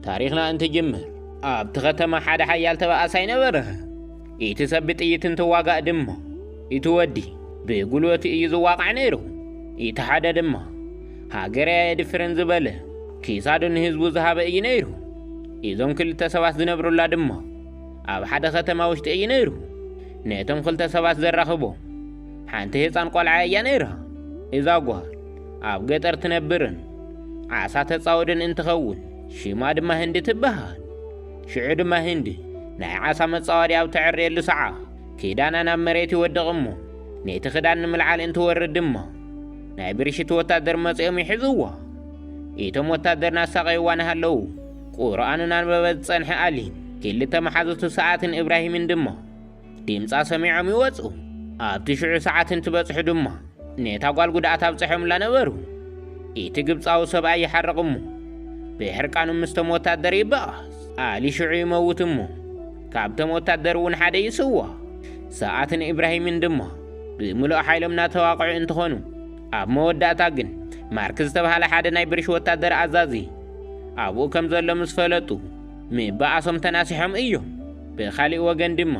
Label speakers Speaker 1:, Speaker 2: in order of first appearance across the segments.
Speaker 1: ታሪኽና እንትጅምር ኣብቲ ከተማ ሓደ ሓያል ተባኣሳይ ነበረ። እቲ ሰብ ብጥይት እንትዋጋእ ድማ እቲ ወዲ ብጉልበቱ እዩ ዝዋቃዕ ነይሩ። እቲ ሓደ ድማ ሃገረይ ኣየድፍርን ዝበለ ክሳዱ ንህዝቡ ዝሃበ እዩ ነይሩ። እዞም ክልተ ሰባት ዝነብሩላ ድማ ኣብ ሓደ ከተማ ውሽጢ እዩ ነይሩ። ነቶም ክልተ ሰባት ዘራኽቦም ሓንቲ ህፃን ቆልዓ እያ ነይራ። እዛ ጓል ኣብ ገጠር ትነብርን ዓሳ ተጻወድን እንትኸውን ሽማ ድማ ህንዲ ትበሃል። ሽዑ ድማ ህንዲ ናይ ዓሳ መጻወዲ ኣብ ተዕርየሉ ሰዓ ክዳና ናብ መሬት ይወድቕ እሞ ነቲ ክዳን ንምልዓል እንትወርድ ድማ ናይ ብርሽቲ ወታደር መጺኦም ይሕዝዋ። ኢቶም ወታደር ናሳቐይዋ ንሃለዉ ቁርኣን እናንበበት ዝጸንሐ ኣሊን ክልተ መሓዙቱ ሰዓትን እብራሂምን ድማ ዲምጻ ሰሚዖም ይወጹ። ኣብቲ ሽዑ ሰዓት እንትበጽሑ ድማ ነታ ጓል ጉድኣት ኣብጸሖምላ ነበሩ። ኢቲ ግብጻዊ ሰብኣይ ይሓርቕ እሞ ብሕርቃኑ ምስቶም ወታደር ይበኣስ። ኣሊ ሽዑ ይመውት እሞ ካብቶም ወታደር እውን ሓደ ይስዋ። ሰኣትን ኢብራሂምን ድማ ብምሉእ ሓይሎም ናተዋቕዑ እንትኾኑ ኣብ መወዳእታ ግን ማርክ ዝተብሃለ ሓደ ናይ ብርሽ ወታደር ኣዛዚ ኣብኡ ከም ዘሎ ምስ ፈለጡ ም ብኣሶም ተናሲሖም እዩም ብካሊእ ወገን ድሞ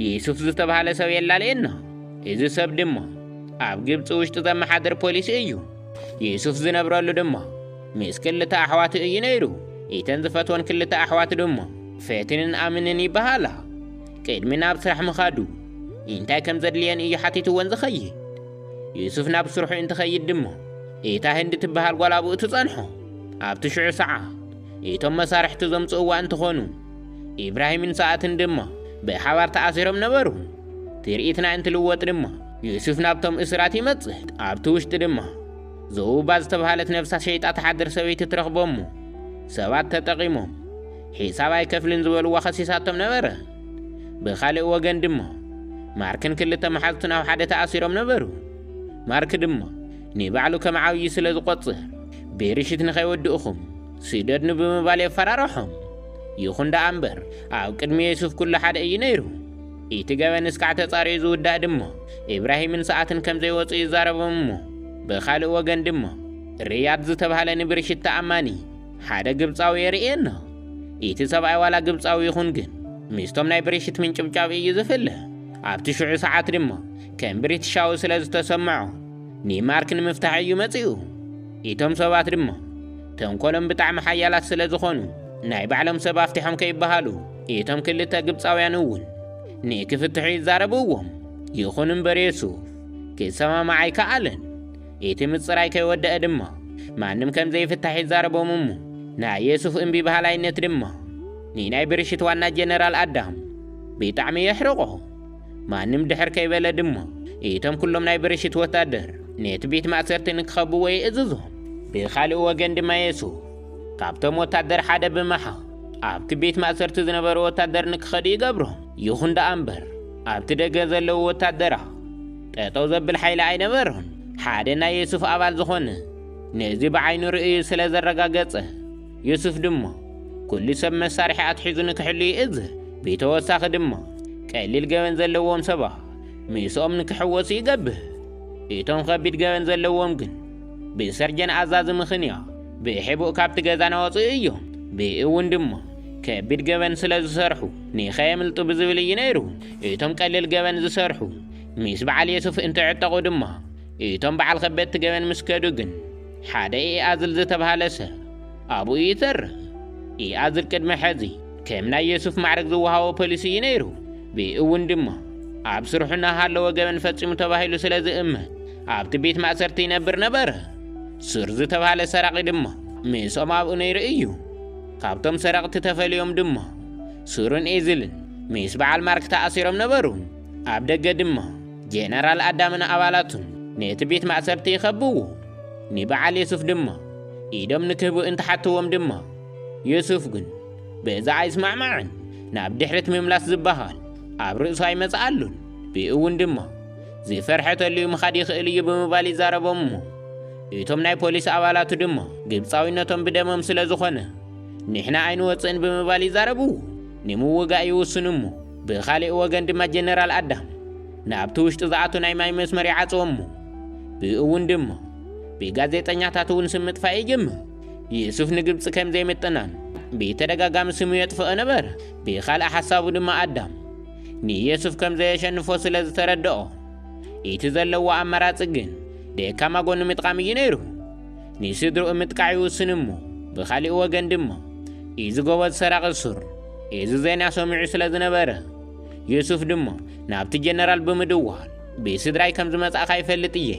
Speaker 1: ዪሱፍ ዝተብሃለ ሰብ የላሊ እኖ እዚ ሰብ ድሞ ኣብ ግብጺ ውሽጢ ዘመሓድር ፖሊሲ እዩ ዪሱፍ ዝነብረሉ ድሞ ምስ ክልተ ኣሕዋቱ እዩ ነይሩ ኢተን ዝፈትወን ክልተ ኣሕዋት ድሞ ፌትንን ኣምንን ይበሃላ ቅድሚ ናብ ስራሕ ምኻዱ እንታይ ከም ዘድልየን እዩ ሓቲትወን ዝኸይድ ዩሱፍ ናብ ስርሑ እንትኸይድ ድሞ እታ ህንዲ ትበሃል ጓል ኣብኡ ትጸንሖ ኣብቲ ሽዑ ሰዓ እቶም መሳርሕቲ ዘምጽእዋ እንትኾኑ፣ ኢብራሂምን ሰኣትን ድማ ብሓባር ተኣሲሮም ነበሩ። ትርኢትና እንትልወጥ ድማ፣ ዩሱፍ ናብቶም እሱራት ይመጽእ። ኣብቲ ውሽጢ ድማ ዘውባ ዝተብሃለት ነፍሳ ሸይጣ ትሓድር ሰበይቲ ትረኽቦም'ሞ፣ ሰባት ተጠቒሞም ሒሳብ ኣይከፍልን ዝበልዋ ከሲሳቶም ነበረ። ብኻልእ ወገን ድማ ማርክን ክልተ መሓዙቱን ኣብ ሓደ ተኣሲሮም ነበሩ። ማርክ ድማ ንባዕሉ ከም ዓብዪ ስለ ዝቖጽር፣ ብርሽት ንኸይወድእኹም ስደድኑ ብምባል የፈራርሖም። ይኹን ደኣ እምበር፣ ኣብ ቅድሚ ዮሱፍ ኵሉ ሓደ እዩ ነይሩ። እቲ ገበን እስካዕ ተጻርዩ ዝውዳእ ድማ፣ እብራሂምን ሰኣትን ከም ዘይወጹ ይዛረቦም እሞ፣ ብኻልእ ወገን ድማ፣ ርያድ ዝተባህለ ንብርሽት ተኣማኒ ሓደ ግብጻዊ የርእየና። እቲ ሰብኣይ ዋላ ግብጻዊ ይኹን ግን፣ ምስቶም ናይ ብርሽት ምንጭብጫብ እዩ ዝፍለ። ኣብቲ ሽዑ ሰዓት ድማ ከም ብሪትሻዊ ስለ ዝተሰምዖ፣ ኒማርክ ንምፍታሕ እዩ መጺኡ። ኢቶም ሰባት ድማ ተንኮሎም ብጣዕሚ ሓያላት ስለ ዝኾኑ ናይ ባዕሎም ሰብ ኣፍቲሖም ከይበሃሉ ኢቶም ክልተ ግብጻውያን እውን ንክፍትሑ ይዛረብዎም። ይኹን እምበር የሱፍ ክሰማማዕ ኣይከኣለን። ኢቲ ምጽራይ ከይወደኣ ድማ ማንም ከም ዘይፍታሕ ይዛረቦም እሞ ናይ የሱፍ እምቢ በሃላይነት ድማ ንናይ ብርሽት ዋና ጀነራል ኣዳም ብጣዕሚ የሕርቖ። ማንም ድሕር ከይበለ ድማ እቶም ኩሎም ናይ ብርሽት ወታደር ነቲ ቤት ማእሰርቲ ንክኸብዎ የእዝዞም። ብኻልእ ወገን ድማ የሱ ካብቶም ወታደር ሓደ ብምሓው ኣብቲ ቤት ማእሰርቲ ዝነበሩ ወታደር ንክኸዱ ይገብሮም። ይኹን ደኣ እምበር ኣብቲ ደገ ዘለዉ ወታደራ ጠጠው ዘብል ሓይሊ ኣይነበሮን። ሓደ ናይ የሱፍ ኣባል ዝኾነ ነዚ ብዓይኑ ርእዩ ስለ ዘረጋገጸ ዩሱፍ ድማ ኩሉ ሰብ መሳርሒ ኣትሒዙ ንክሕሉ ይእዝዝ። ብተወሳኺ ድማ ቀሊል ገበን ዘለዎም ሰባት ምስኦም ንክሕወሱ ይገብር። እቶም ከቢድ ገበን ዘለዎም ግን ብሰርጀን ኣዛዚ ምኽንያት ብሕቡእ ካብቲ ገዛ ናወፅኡ እዮም። ብእውን ድማ ከቢድ ገበን ስለ ዝሰርሑ ንኸየምልጡ ብዝብል እዩ ነይሩ። እቶም ቀሊል ገበን ዝሰርሑ ምስ በዓል ዩሱፍ እንትዕጠቑ ድማ እቶም በዓል ከበድቲ ገበን ምስ ከዱ ግን ሓደ ኢኣዝል ዝተብሃለ ሰብ ኣብኡ ይተርፍ። ኢኣዝል ቅድሚ ሕዚ ከም ናይ የሱፍ ማዕርግ ዝወሃቦ ፖሊስ እዩ ነይሩ። ብእውን ድማ ኣብ ስርሑ እናሃለወ ገበን ፈጺሙ ተባሂሉ ስለ ዝእመን ኣብቲ ቤት ማእሰርቲ ይነብር ነበረ። ሱር ዝተባህለ ሰራቒ ድማ ምስኦም ኣብኡ ነይሩ እዩ። ካብቶም ሰረቕቲ ተፈልዮም ድማ ሱርን ኤዝልን ምስ በዓል ማርክ ተኣሲሮም ነበሩ። ኣብ ደገ ድማ ጀነራል ኣዳምን ኣባላቱን ነቲ ቤት ማእሰርቲ ይኸብዎ። ንበዓል የሱፍ ድማ ኢዶም ንክህቡ እንተሓትዎም ድማ የሱፍ ግን በዚ ኣይስማዕማዕን። ናብ ድሕሪት ምምላስ ዝበሃል ኣብ ርእሱ ኣይመጽኣሉን። ብእውን ድማ ዝፈርሐ ተልዩ ምኻድ ይኽእል እዩ ብምባል ይዛረቦም እሞ እቶም ናይ ፖሊስ ኣባላቱ ድማ ግብጻዊነቶም ብደሞም ስለ ዝኾነ ንሕና ኣይንወጽእን ብምባል ይዛረብዎ። ንምውጋእ ይውስኑ እሞ ብኻሊእ ወገን ድማ ጀነራል ኣዳም ናብቲ ውሽጢ ዝኣቱ ናይ ማይ መስመር ይዓጽዎ እሞ ብኡ እውን ድማ ብጋዜጠኛታት እውን ስም ምጥፋእ ይጅምር። ዩሱፍ ንግብፂ ከም ዘይምጥናን ብተደጋጋሚ ስሙ የጥፍኦ ነበረ። ብኻልእ ሓሳቡ ድማ ኣዳም ንየሱፍ ከም ዘየሸንፎ ስለ ዝተረድኦ እቲ ዘለዎ ኣማራፂ ግን ደካማ ጎኑ ምጥቓም እዩ ነይሩ። ንስድርኡ ምጥቃዕ ይውስን እሞ ብኻሊእ ወገን ድማ ኢዚ ጎበዝ ሰራቒ ሱር ኢዚ ዜና ሰሚዑ ስለ ዝነበረ ዩሱፍ ድማ ናብቲ ጀነራል ብምድዋል ብስድራይ ከም ዝመጻእካ ይፈልጥ እየ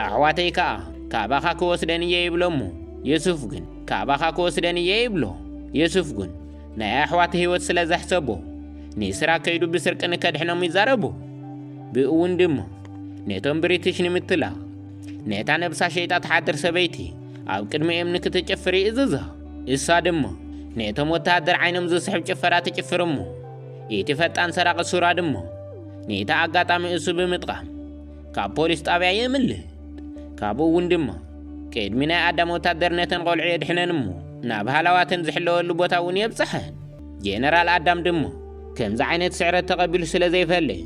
Speaker 1: ኣሕዋተይ ከኣ ካባኻ ክወስደን እየ ይብሎ እሞ ዩሱፍ ግን ካባኻ ክወስደን እየ ይብሎ ዩሱፍ ግን ናይ ኣሕዋት ህይወት ስለ ዘሕሰቦ ንስራ ከይዱ ብስርቂ ንከድሕኖም ይዛረቡ ብእውን ድማ ነቶም ብሪትሽ ንምትላ ነታ ነብሳ ሸይጣ ትሓድር ሰበይቲ ኣብ ቅድሚ እምኒ ክትጭፍር ይእዝዛ። እሳ ድማ ነቶም ወተሃደር ዓይኖም ዝስሕብ ጭፈራ ትጭፍር እሞ እቲ ፈጣን ሰራቒ ሱራ ድማ ነቲ ኣጋጣሚ እሱ ብምጥቓም ካብ ፖሊስ ጣብያ የምልጥ። ካብኡ እውን ድማ ቅድሚ ናይ ኣዳም ወታደር ነተን ቆልዑ የድሕነን እሞ ናብ ሃላዋተን ዝሕለወሉ ቦታ እውን የብጽሐን። ጄነራል ኣዳም ድማ ከምዚ ዓይነት ስዕረት ተቐቢሉ ስለ ዘይፈልጥ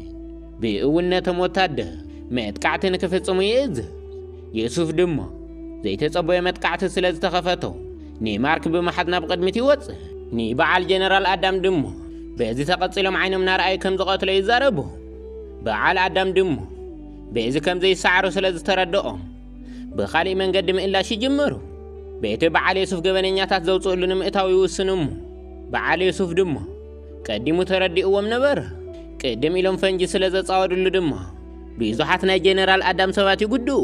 Speaker 1: ብእውን ነቶም ወታደር መጥቃዕቲ ንክፍጽሙ ይእዝዝ። ዮሱፍ ድማ ዘይተጸበዮ መጥቃዕቲ ስለ ዝተኸፈቶ ንማርክ ብምሓዝ ናብ ቕድሚት ይወጽእ። ንበዓል ጀነራል ኣዳም ድማ በዚ ተቐጺሎም ዓይኖም ናርኣዩ ከም ዝቐትሎ ይዛረቡ። በዓል ኣዳም ድማ በዚ ከም ዘይሰዓሩ ስለ ዝተረድኦም ብኻሊእ መንገዲ ምእላሽ ይጅምሩ። በቲ በዓል ዮሱፍ ገበነኛታት ዘውጽእሉ ንምእታው ይውስኑ እሞ በዓል ዮሱፍ ድማ ቀዲሙ ተረዲእዎም ነበረ። ቅድም ኢሎም ፈንጂ ስለ ዘጻወድሉ ድማ ብዙሓት ናይ ጀነራል ኣዳም ሰባት ይጉድኡ።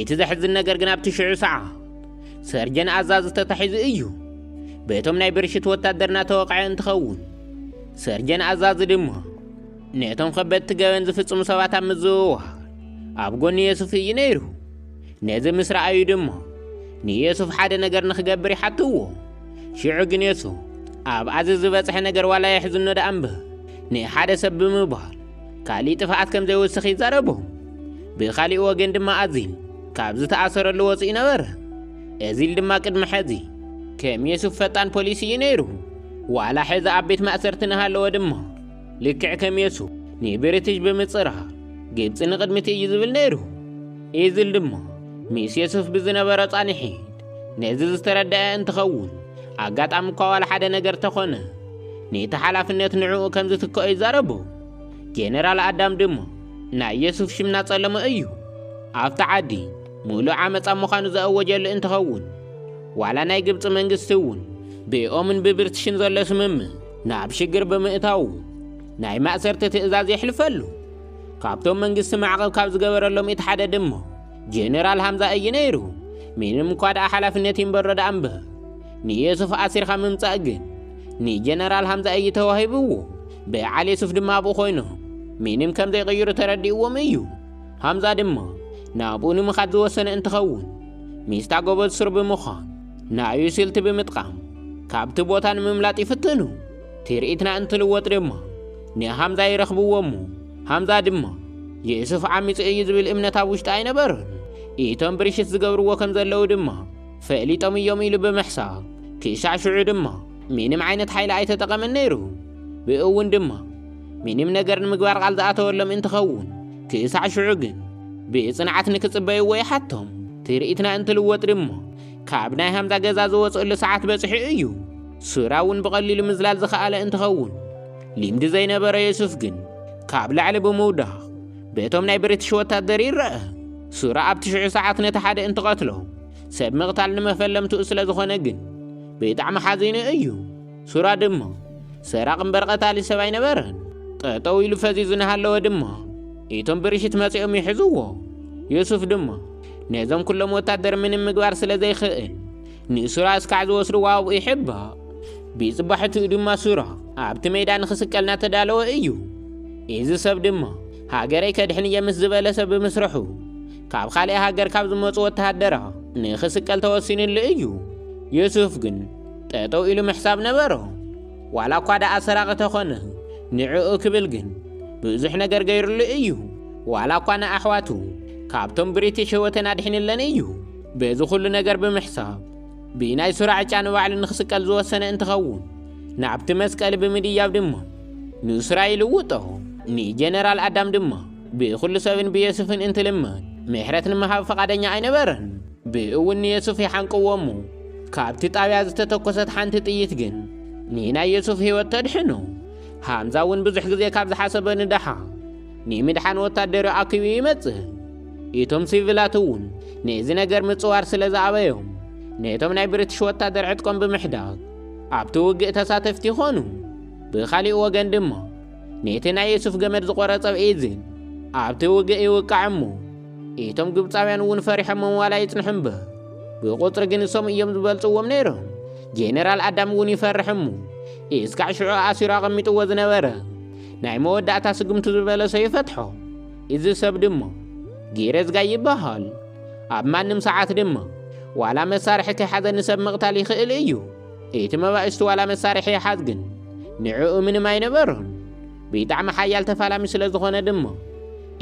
Speaker 1: እቲ ዘሕዝን ነገር ግን ኣብቲ ሽዑ ሰዓ ሰርጀን ኣዛዚ ተታሒዙ እዩ። በቶም ናይ ብርሽት ወታደርና ተወቕዐ እንትኸውን ሰርጀን ኣዛዚ ድማ ነቶም ከበድቲ ገበን ዝፍጽሙ ሰባት ኣብ ምዝውዋር ኣብ ጎኒ የሱፍ እዩ ነይሩ። ነዚ ምስ ረኣዩ ድማ ንየሱፍ ሓደ ነገር ንኽገብር ይሓትዎ ሽዑ ግን የሱ ኣብ ኣዚ ዝበጽሐ ነገር ዋላ የሕዝኖ ደኣ እምበር ንሓደ ሰብ ብምባል ካሊእ ጥፍኣት ከም ዘይወስኽ ይዛረቦም ብኻሊእ ወገን ድማ ኣዚል ካብ ዝተኣሰረሉ ወፂኡ ነበረ እዚል ድማ ቅድሚ ሕዚ ከም የሱፍ ፈጣን ፖሊሲ እዩ ነይሩ ዋላ ሕዚ ኣብ ቤት ማእሰርቲ ንሃለወ ድማ ልክዕ ከም የሱ ንብሪትሽ ብምጽራ ግብጺ ንቕድሚት እዩ ዝብል ነይሩ። ኢዝል ድማ ምስ የሱስ ብዝነበሮ ጻንሒት ነዚ ዝተረድአ እንትኸውን ኣጋጣሚ እኳ ዋላ ሓደ ነገር ተኾነ ነቲ ሓላፍነት ንዕኡ ከም ዝትክኦ ይዛረቡ። ጀነራል ኣዳም ድማ ናይ የሱስ ሽም ናጸለመ እዩ። ኣብቲ ዓዲ ምሉእ ዓመፃ ምዃኑ ዘእወጀሉ እንትኸውን ዋላ ናይ ግብፂ መንግስቲ እውን ብኦምን ብብርትሽን ዘሎ ስምምዕ ናብ ሽግር ብምእታዉ ናይ ማእሰርቲ ትእዛዝ የሕልፈሉ። ካብቶም መንግስቲ ማዕቐብ ካብ ዝገበረሎም እቲ ሓደ ድማ ጀነራል ሃምዛ እዩ ነይሩ። ምንም እኳ ደኣ ሓላፍነት ይንበሮ ደኣ እምበር ንየሱፍ ኣሲርካ ምምጻእ ግን ንጀነራል ሃምዛ እዩ ተዋሂብዎ። በዓል የሱፍ ድማ ኣብኡ ኮይኖም ምንም ከም ዘይቕይሩ ተረዲእዎም እዩ። ሃምዛ ድማ ናብኡ ንምኻድ ዝወሰነ እንትኸውን ሚስታ ጎበዝ ሱር ብምዃን ንኣዩ ስልቲ ብምጥቃም ካብቲ ቦታ ንምምላጥ ይፍትኑ። ትርኢትና እንትልወጥ ድማ ንሃምዛ ይረኽብዎ እሞ ሃምዛ ድማ የእሱፍ ዓሚፁ እዩ ዝብል እምነት ኣብ ውሽጢ ኣይነበሩን። እቶም ብርሽት ዝገብርዎ ከም ዘለዉ ድማ ፈሊጦም እዮም ኢሉ ብምሕሳብ ክሻዕ ሽዑ ድማ ምንም ዓይነት ሓይሊ ኣይተጠቐመን ነይሩ። ብእውን ድማ ምንም ነገር ንምግባር ቓል ዝኣተወሎም እንትኸውን ክሳዕ ሽዑ ግን ብፅንዓት ንክፅበይዎ ይሓቶም። ትርኢትና እንትልወጥ ድማ ካብ ናይ ሃምዛ ገዛ ዝወፅእሉ ሰዓት በፂሑ እዩ። ሱራ እውን ብቐሊሉ ምዝላል ዝኸኣለ እንትኸውን ልምዲ ዘይነበሮ የሱፍ ግን ካብ ላዕሊ ብምውዳቕ በቶም ናይ ብሪትሽ ወታደር ይረኣ። ሱራ ኣብቲ ሽዑ ሰዓት ነቲ ሓደ እንትቐትሎ ሰብ ምቕታል ንመፈለምትኡ ስለዝኾነ ግን ብጣዕሚ ሓዚኑ እዩ። ሱራ ድማ ሰራቂ እምበር ቀታሊ ሰብ ኣይነበረን። ጠጠው ኢሉ ፈዚዙ እናሃለወ ድማ እቶም ብርሽት መጺኦም ይሕዝዎ። ዮሱፍ ድማ ነዞም ኩሎም ወታደር ምንም ምግባር ስለ ዘይክእል ንሱራ እስካዕ ዝወስድዎ ኣብኡ ይሕባእ። ብጽባሕትኡ ድማ ሱራ ኣብቲ ሜዳ ንክስቀል እናተዳለወ እዩ። እዚ ሰብ ድማ ሃገረይ ከድሕን እየ ምስ ዝበለ ሰብ ብምስርሑ ካብ ካልእ ሃገር ካብ ዝመጹ ወተሃደራ ንክስቀል ተወሲንሉ እዩ። ዮሱፍ ግን ጠጠው ኢሉ ምሕሳብ ነበሮ። ዋላ እኳ ደኣ ሰራቒ ተኾነ ንዕኡ ክብል ግን ብዙሕ ነገር ገይሩሉ እዩ። ዋላ እኳ ንኣሕዋቱ ካብቶም ብሪቲሽ ህይወተን ኣድሒኑለን እዩ። በዚ ኩሉ ነገር ብምሕሳብ ብናይ ሱራ ዕጫ ንባዕሉ ንክስቀል ዝወሰነ እንትኸውን ናብቲ መስቀሊ ብምድያብ ድማ ንሱራ ይልውጦ። ንጀነራል ኣዳም ድማ ብኹሉ ሰብን ብየሱፍን እንትልምን ምሕረት ንምሃብ ፈቓደኛ ኣይነበረን። ብእውን ንየሱፍ ይሓንቅዎ እሞ ካብቲ ጣብያ ዝተተኮሰት ሓንቲ ጥይት ግን ንናይ የሱፍ ህይወት ተድሕኖ። ሃምዛ እውን ብዙሕ ግዜ ካብ ዝሓሰበ ንደሓ ንምድሓን ወታደር ኣኪቡ ይመጽእ። እቶም ሲቪላት እውን ነዚ ነገር ምጽዋር ስለ ዝኣበዮም ነቶም ናይ ብሪትሽ ወታደር ዕጥቆም ብምሕዳግ ኣብቲ ውግእ ተሳተፍቲ ይኾኑ። ብኻሊእ ወገን ድማ ነቲ ናይ የሱፍ ገመድ ዝቖረጸ ብኢዝን ኣብቲ ውግእ ይውቃዕ እሞ እቶም ግብፃውያን እውን ፈሪሖሞም ዋላ ይጽንሑ እምበር ብቁፅሪ ግን እሶም እዮም ዝበልፅዎም ነይሮም። ጄኔራል ኣዳም እውን ይፈርሕ እሞ እስካዕ ሽዑ ኣሲሩ ኣቐሚጥዎ ዝነበረ ናይ መወዳእታ ስጉምቱ ዝበለሶ ይፈትሖ። እዚ ሰብ ድማ ጊሬዝጋ ይበሃል። ኣብ ማንም ሰዓት ድማ ዋላ መሳርሒ ከይሓዘ ንሰብ ምቕታል ይኽእል እዩ። እቲ መባእስቲ ዋላ መሳርሒ ይሓዝ ግን ንዕኡ ምንም ኣይነበሮን። ብጣዕሚ ሓያል ተፋላሚ ስለዝኾነ ድማ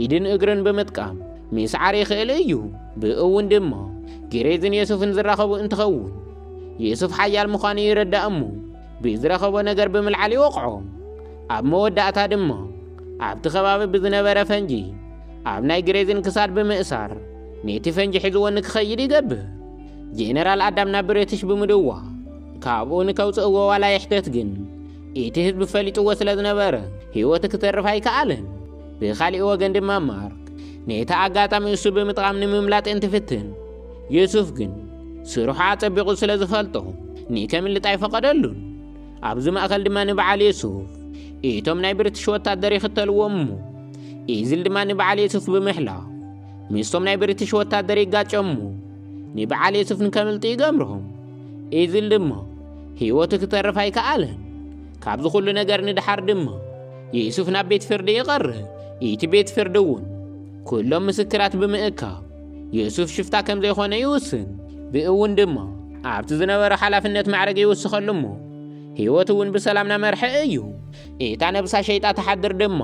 Speaker 1: ኢድን እግርን ብምጥቃም ምስዓር ይኽእል እዩ። ብእውን ድማ ጊሬዝን የሱፍን ዝራኸቡ እንትኸውን የሱፍ ሓያል ምዃኑ ይረዳእ እሞ ብዝረኸቦ ነገር ብምልዓል ይወቕዖ። ኣብ መወዳእታ ድማ ኣብቲ ከባቢ ብዝነበረ ፈንጂ ኣብ ናይ ግሬዝን ክሳድ ብምእሳር ነቲ ፈንጂ ሒዝዎ ንክኸይድ ይገብር። ጄነራል ኣዳም ናብ ብሪትሽ ብምድዋል ካብኡ ንከውፅእዎ ዋላ ይሕተት ግን ኢቲ ህዝቢ ፈሊጥዎ ስለ ዝነበረ ህይወቱ ክተርፍ ኣይከኣለን። ብኻሊእ ወገን ድማ ማርክ ነቲ ኣጋጣሚ እሱ ብምጥቓም ንምምላጥ እንትፍትን፣ ዩሱፍ ግን ስርሑ ኣጸቢቑ ስለ ዝፈልጦ ንከምልጥ ኣይፈቐደሉን። ኣብዚ ማእከል ድማ ንበዓል ዩሱፍ ኢቶም ናይ ብሪትሽ ወታደር ይኽተልዎም እሞ ኢዝል ድማ ንበዓል ዩሱፍ ብምሕላው ምስቶም ናይ ብሪትሽ ወታደር ይጋጨሙ። ንበዓል የሱፍ ንከምልጡ ይገምሮም ኢዝል ድማ ህይወቱ ክተርፍ ኣይከኣለን ካብዚ ኩሉ ነገር ንድሓር ድማ የሱፍ ናብ ቤት ፍርዲ ይቐርብ እቲ ቤት ፍርዲ እውን ኩሎም ምስክራት ብምእካብ የሱፍ ሽፍታ ከም ዘይኮነ ይውስን ብእውን ድማ ኣብቲ ዝነበረ ሓላፍነት ማዕረግ ይውስኸሉ እሞ ህይወት እውን ብሰላም ናመርሐ እዩ እታ ነብሳ ሸይጣ ተሓድር ድማ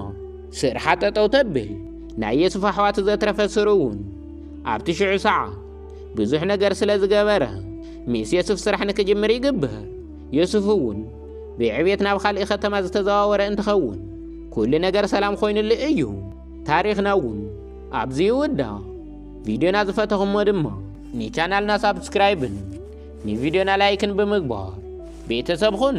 Speaker 1: ስርሓ ጠጠው ተብል ናይ የሱፍ ኣሕዋቱ ዘትረፈ ስሩ እውን ኣብቲ ሽዑ ሰዓ ብዙሕ ነገር ስለ ዝገበረ ምስ የሱፍ ስራሕ ንክጅምር ይግብር። የሱፍ እውን ብዕቤት ናብ ካልእ ከተማ ዝተዘዋወረ እንትኸውን ኩሉ ነገር ሰላም ኮይኑሉ እዩ። ታሪኽና እውን ኣብዚ ይውዳእ። ቪድዮና ዝፈተኹሞ ድማ ንቻናልና ሳብስክራይብን ንቪድዮና ላይክን ብምግባር ቤተሰብ ኹኑ።